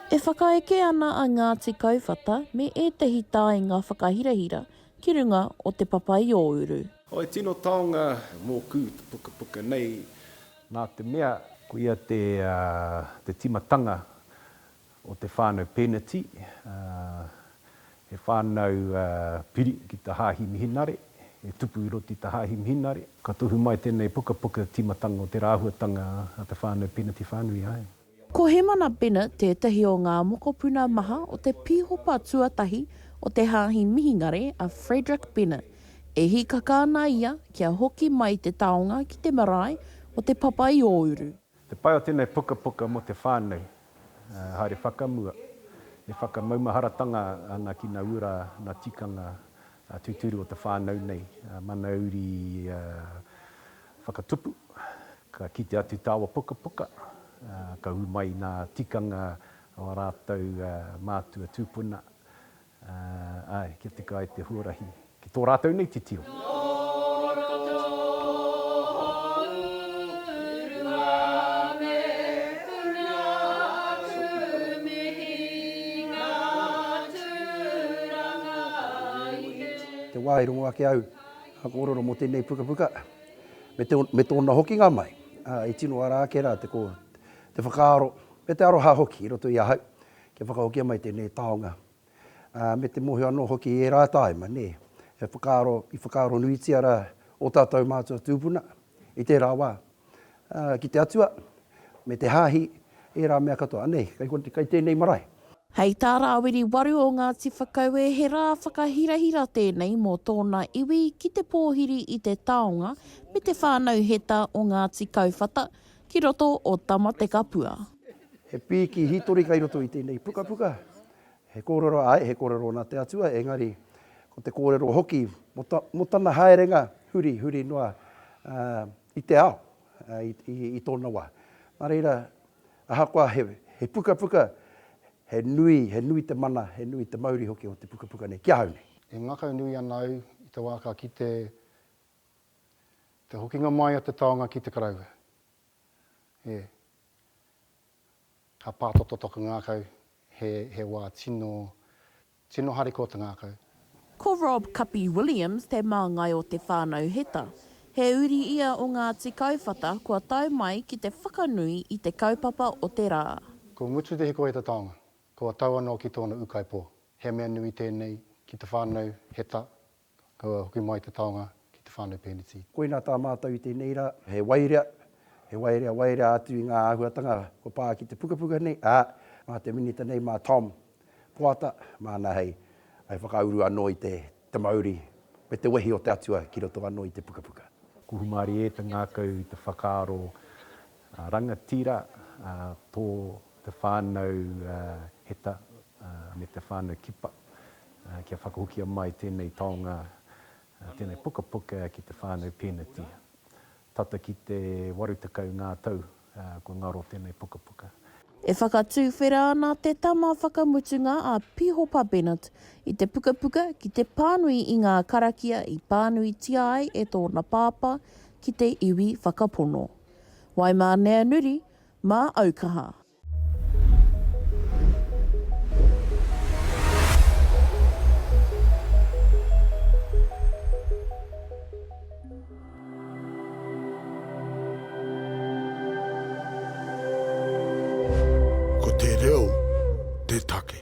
E whakaeke ana a Ngāti Kauwhata me ētehi taenga whakahirahira ki runga o Te Papaiōuru. Oh, he tino taonga mōku te pukapuka nei, nā te mea. Koia te tīmatanga o te whānau Pēneti, he whānau piri ki te Hāhi Mihinare, he tupu i roto i te Hāhi Mihinare. Ka tohu mai tēnei pukapuka tīmatanga o tērā āhuatanga a te whānau Pēneti whānui ai. Ko Hemana Bennett tētahi o ngā mokopuna maha o te pīhopa tuatahi o te Hāhi Mihingare a Frederick Bennett. E hīkaka ana ia kia hoki mai te taonga ki te marae o Te Papa-i-ō-uru. Te pai o tēnei pukapuka mō te whānau, haere whakamua, e whakamaumaharatanga ana ki ngā ura, ngā tikanga tūturu o te whānau nei, mana uri whakatupu, ka kite atu tāua pukapuka, ka ū mai ngā tikanga o ā rātou mātua tūpuna, Āe, kia tika ai te huarahi ki tō rātou nei titiro. Te wā i rongo ake au ka kōrero mō tēnei pukapuka, me tōna hokinga mai, i tino ara ake rā te whakaaro, me te aroha hoki i roto i ahau, kia whakahokia mai tēnei taonga, ā, me te mōhio anō hoki i ērā tāima, nē, e whakaaro, i whakaaro nuitia rā ō tātou mātua tūpuna i tērā wā, ā, ki te Atua, me te Hāhi, ērā mea katoa. Anei, kei konei, kei tēnei marae. Hei tā Rāwiri Waru o Ngāti Whakaue he rā whakahirahira tēnei mō tōna iwi ki te pōhiri i te taonga me te whānau heta o Ngāti Kauwhata ki roto o Tamatekapua. He pīki hītori kei roto i tēnei pukapuka. He kōrero, āe, he kōrero nā te Atua, engari ko te kōrero hoki mō ta, mō tana haerenga huri, huri noa i te ao, i, i, i tōna wā. Nā reira, ahakoa he, he pukapuka, he nui, he nui te mana, he nui te mauri hoki o te pukapuka nei ki ahau nei. E ngakaunui ana au i te wā ka kite te hokinga mai o te taonga ki te karaua. E. Ka pātoto taku ngākau, he, he wā tino, tino harikoa te ngākau. Ko Rob Kapi Williams te māngai o Te Whānau Heta. He uri ia o Ngāti Kauwhata kua tau mai ki te whakanui i te kaupapa o te rā. Ko Ngutu Te Hikoheta taonga, kua tau anō ki tōna ūkaipō. He mea nui tēnei ki te whānau Heta Kaua hoki mai te taonga ki te whānau Pēneti. Koina tā mātou i tēnei rā. He waerea, he waerea, waerea atu i ngā āhuatanga kua pā ki te pukapuka nei, ā, mā te Minita nei, mā Tom Poata, māna hei whakauru anō i te mauri me te wehi o te Atua ki roto anō i te pukapuka. Kuhumarie te ngākau i te whakaaro Rangatira, tō te whānau Heta me te whānau Kipa kia whakahokia mai tēnei taonga, tēnei pukapuka ki te whānau Pēneti. Tata ki te 80 ngā tau kua ngaro tēnei pukapuka. E whakatuwhera ana te tama whakamutunga a Pīhopa Bennett i te pukapuka ki te pānui i ngā karakia i pānuitia ai e tōna pāpā ki te iwi whakapono. Wai mā nea nuri, mā au kaha. Ko te reo te take.